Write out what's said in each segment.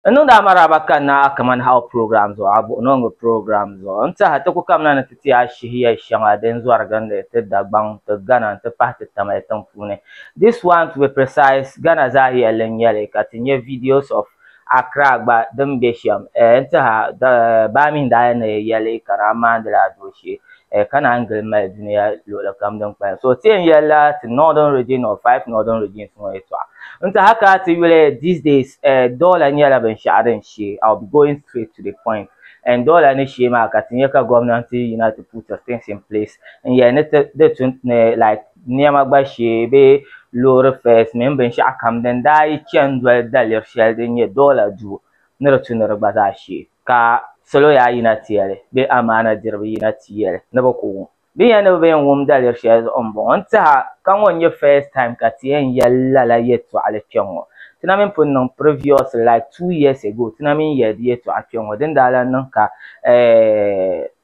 N niŋdi a maraaba ka n na a Kaman How Program zuɣu a buɣinooŋɔ program zuɣu. N tehi a ti ku kamina ni ti ti a shihi yɛl shɛŋa din zɔri gindi ti Dagbaŋ, ti Ghana n-ti pahi ti Tamale tiŋ puuni. This one to be precise Ghana zaa yɛlli n-nyɛ li ka ti nya videos of Accra gba din be shɛm. N tehi a, baa mi n daa yɛn ni yɛli ka naa maandila a dooshee. eh, ka naan gili mali dunia luɣuli kam din kpalim so ti yɛn yɛlila ti northern region or five northern regions ŋɔ yɛtɔɣa n ti haka ti yuli these days eh, doola nyɛla binshaɣu din shee i'll be going straight to the point and doola ni shee maa ka ti nyɛ ka gɔmnanti yina ti put things in place n yɛli ni ti di tun ni like niɛma gba shee bee loori fares mini binshaɣu kam din daa yi chani doli daliri shɛli din nyɛ doola duu ni di tu ni di gba zaa shee, ka salo yaa yina ti ya li, bee amaana diriba yina ti ya li ni bɛ ku wum. Bɛ ni ya ni bɛ bi yɛn wum daliri shɛli zuɣu m-bɔŋɔ, n tɛha ka ŋɔ n-nyɛ first time ka ti yɛn yɛli lala yɛtɔɣili kpe ŋɔ. Ti na mi ni pun niŋ previously like two years ago, ti na mi n-yɛli di yɛtɔɣa kpe ŋɔ, din daa lan niŋ ka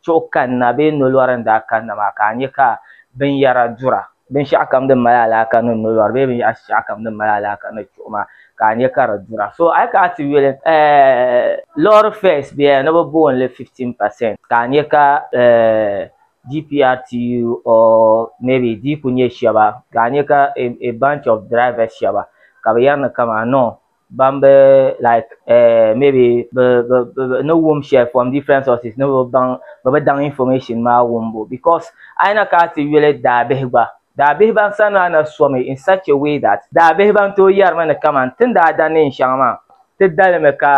chuɣu kanna bee nolɔri n-daa kanna maa ka a nya ka binyɛra dura. binshɛɣu kam din mali alaaka ni nolɔri bee binshɛɣu kam din mali alaaka ni chuɣuma ka a nya ka di dura so a yi kana ti yuli lɔɔri fɛs bɛya ni bi booni li 15% ka a nya ka DPRTU or maybe di ku nya shɛba ka a nya ka a bunch of drivers shɛba ka bi yɛri ni kaman noo ban be like uh, maybe be be be ni wum shɛli from different sources ni be baŋ be bi daŋ information maa wumbu because a yi na ka a ti yuli daabihi gba daabihi ban sani maa na somi in such a way that daabihi ban tooi yɛrimi ni kaman ti ni daa da neen shɛŋa maa ti dalimi ka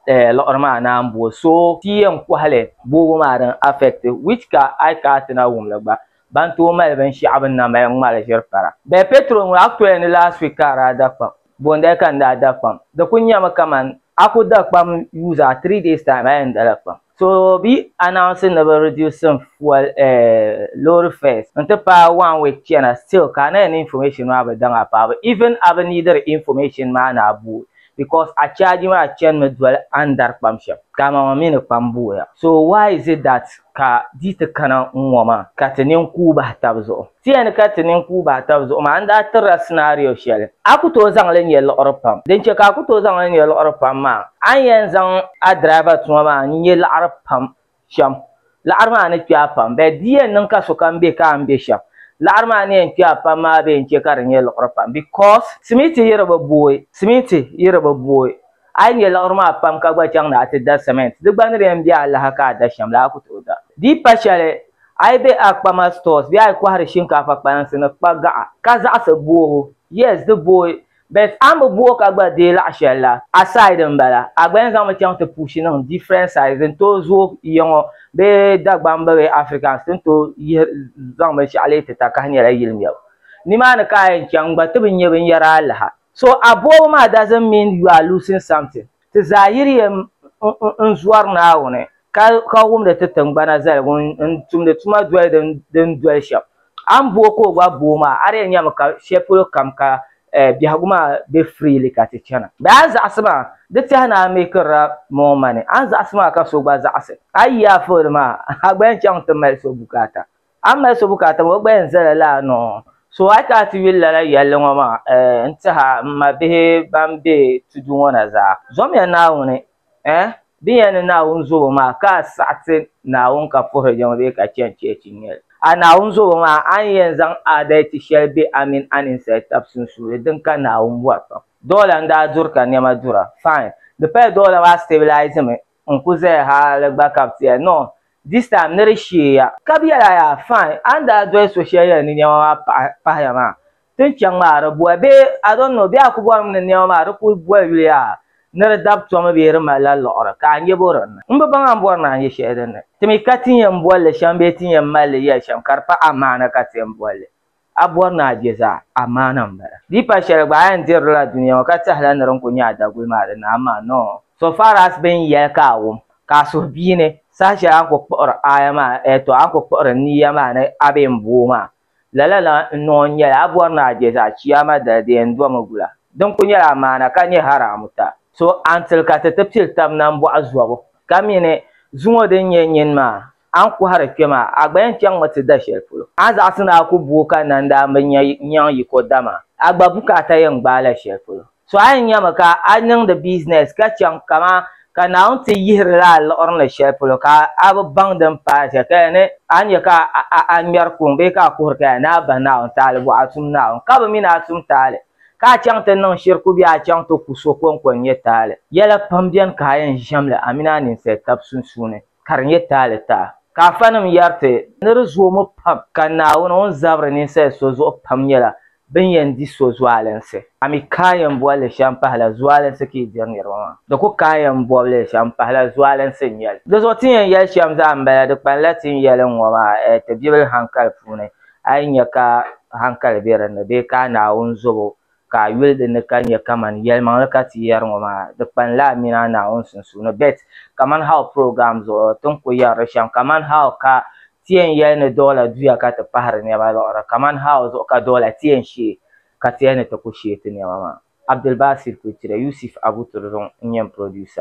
eh, liɣiri maa na m-bo so ti yɛn kɔhili boobu maa din affect which ka a yi ka a ti na wum li gba ban tooi mali binshɛɣu bɛ ni na mali ŋmali ʒiri para bɛ petrol ŋɔ actually ni last week ka a daa da kpaam Boondali ka n daa da kpam. Di kuli nyɛmi kamani a ku da kpam use a three days time a yɛn dala kpam. So bɛ yi announce ni bɛ reducing fuel eh loori fares n ti paai one week chana still ka a na yɛn ni information maa bi daŋ a paɣaba even a bi neediri information maa ni a booi because a charge maa chanimi doli a ni dari kpam shɛm ka a maŋmaŋ mi ni kpam booya so why is it that Ka di ti kana ŋ-ŋɔ maa, ka ti nini kuui bahi tab zuɣu. Ti yɛn ni ka ti nini kuui bahi tab zuɣu maa, n daa tirila scenario shɛli a ku tooi zaŋ li nya liɣiri pam. Din chɛ ka a ku tooi zaŋ li nya liɣiri pam maa, a ni yɛn zaŋ a driver tuma maa n-nya liɣiri pam shɛm, liɣiri maa ni kpe a pam. But di yɛn niŋ ka sokam be ka a ni be shɛm, liɣiri maa ni yɛn kpe a pam maa bee n-chɛ ka di nya liɣiri pam because simiti yi di bi booi, simiti yi di bi booi. A yi nya liɣiri maa pam ka gba chaŋ ni a ti da siment, di gba ni di yɛn be alaha ka a da shɛm la, a ku tooi da. Di pa shɛli, a yi be a kpama stores bee a yi kɔhiri shinkaafa kpalansi ni kpa gaɣa, ka zaɣisi boobu, yes, di booi, but a ni bi booi ka gba deei laɣ shɛli la, a side m-bala, a gba yɛn zaŋmi chaŋ ti pushi niŋ different sides din tooi zooi ya ŋɔ bee Dagbamba bee Africans ti ni tooi yihi zaŋ binshɛɣu leei ti takahi nyɛla yili mɛbu. Nimaani ka a yɛn chaŋ n-gba ti bi nya binyɛra alaha. So a bɔbu maa doesn't mean you are losing something. Ti zaa yiri yɛm n zɔri Naawuni ka ka wumdi ti tingbana zaligu n tumdi tuma doli din din doli shɛm. A ni booi ka o gba booi maa a di yɛn nyɛmi ka shɛli polo kam ka eh biɛhigu maa be freely ka ti chana. Bɛ a zaɣisi maa di tɛha ni a mekirila more money a ni zaɣisi maa ka so gba zaɣisi a yi yi a fooni maa a gba yɛn chaŋ ti mali so bukaata. A mali so bukaata maa o gbaya n-zala laa ni o so a chaŋ ti yuli lala yɛlli ŋɔ maa eh n-tih a m ma bihi ban be tudu ŋɔ na zaa. Zɔmiya Naawuni eh din yɛn ni Naawuni zobo maa ka a saɣi ti Naawuni ka puhiri jɛma bee ka chani cheechi n-nyɛ li. A Naawuni zobo maa a ni yɛn zaŋ aadalichi shɛli be a mini a ninsal tab sunsuuni din ka Naawuni bɔri pam. Dɔla n-daa duri ka nɛma dura. Fine. Di paya dɔla maa stabilize mi. n ku zaya hali gba ka bi tiya no this time ni di sheeya. Ka bi yɛla yaa fine a ni daa doli so shɛli yɛli ni nɛma maa paɣi pahiya maa ti ni chaŋ maa di boli bee I don't know bee a ku bɔrimi ni nɛma maa di ku boli yuli yaa ni di dabi tomi bee di malila liɣiri ka a nya bo din ni n bi baŋ a ni bɔri ni a nya shɛli din ni ti mi ka ti ni yɛn boli li shɛm bee ti ni yɛn mali li yɛli shɛm ka di pa a maana ka ti yɛn boli li A bɔri ni a je zaa, amaana m-bala. Di pa shɛli gba a yɛn dirila dunia ŋɔ ka tɛhila ni di ni ku nyɛ a daguli maa di ni amaa nɔɔ. So far as bɛ ni yɛli ka a wum, ka a suhu bia ni, saha shɛli a ni ku kpuɣiri aaya maa, ɛɛ tɔ, a ni ku kpuɣiri niiya maa ni a bee m-bo o maa, lala la n-niŋ n-nyɛli, a bɔri ni a je zaa, Chiyaama dali di yɛn domi gula. Di ni ku nyɛla amaana ka nyɛ haraamu ta. So a ni tili ka ti ti pili tab nambɔɣu zɔbu, ka mi ni zuŋɔ di ni nyɛ nyini maa, A ni kɔhiri kpe maa, a gba yɛn chaŋmi ti da shɛli polo. A zaɣisi ni a ku bu o ka nandaa m-bi nya nyaŋ yiko dama a gba bu ka a ta yɛn gbaai la shɛli polo. So a yɛn nyami ka a niŋdi bizinɛs ka chaŋ kaman ka Naawuni ti yihiri la a liɣiri ni shɛli polo ka a bi baŋ din paai shɛli ka ya ni a nya ka a ŋmɛri kuŋ bee ka a kuhiri ka ya ni a bahi Naawuni taali bɔɣa tum Naawuni ka bi mi ni a tum taali ka a chaŋ ti niŋ shiriku bee a chaŋ ti ku so kɔŋko n-nyɛ taali. Yɛla pam beni ka a yɛn ʒiɛm li a mini a ninsali tab sunsuuni. ka di nyɛ taalitaa ka afanim yɛri ti ni di zoomi pam ka Naawuni ŋun zabiri ninsal so zuɣu pam nyɛla bɛn yɛn di so zualinsi. A mi ka a yɛn boli li shɛm pahila zualinsi ka yi diri niriba maa? Di ku ka a yɛn bɔbi li shɛm pahila zualinsi n-nyɛ li. Di zuɣu ti ni yɛn yɛli shɛm zaa m-bala, di kpanila ti ni yɛli ŋ-ŋɔ maa ti bibili haŋkali puuni, a yi nya ka haŋkali be din ni bee ka a Naawuni zobo ka a yuli di ni ka nya kaman yɛlimaŋli ka ti yɛri ŋɔ maa, di kpanila a mini a Naawuni sunsuuni. Bet, kaman how program zuɣu ti ni ku yɛri li shɛm, kaman how ka ti yɛn yɛli ni dɔɣila duya ka ti pahiri nɛma liɣiri, kaman how zuɣu ka dɔɣila ti yɛn shee ka ti yɛli ni ti ku shee ti nɛma maa. Abdulbasir Kwetire, Yusuf Abu Turzung n-nyɛ n producer.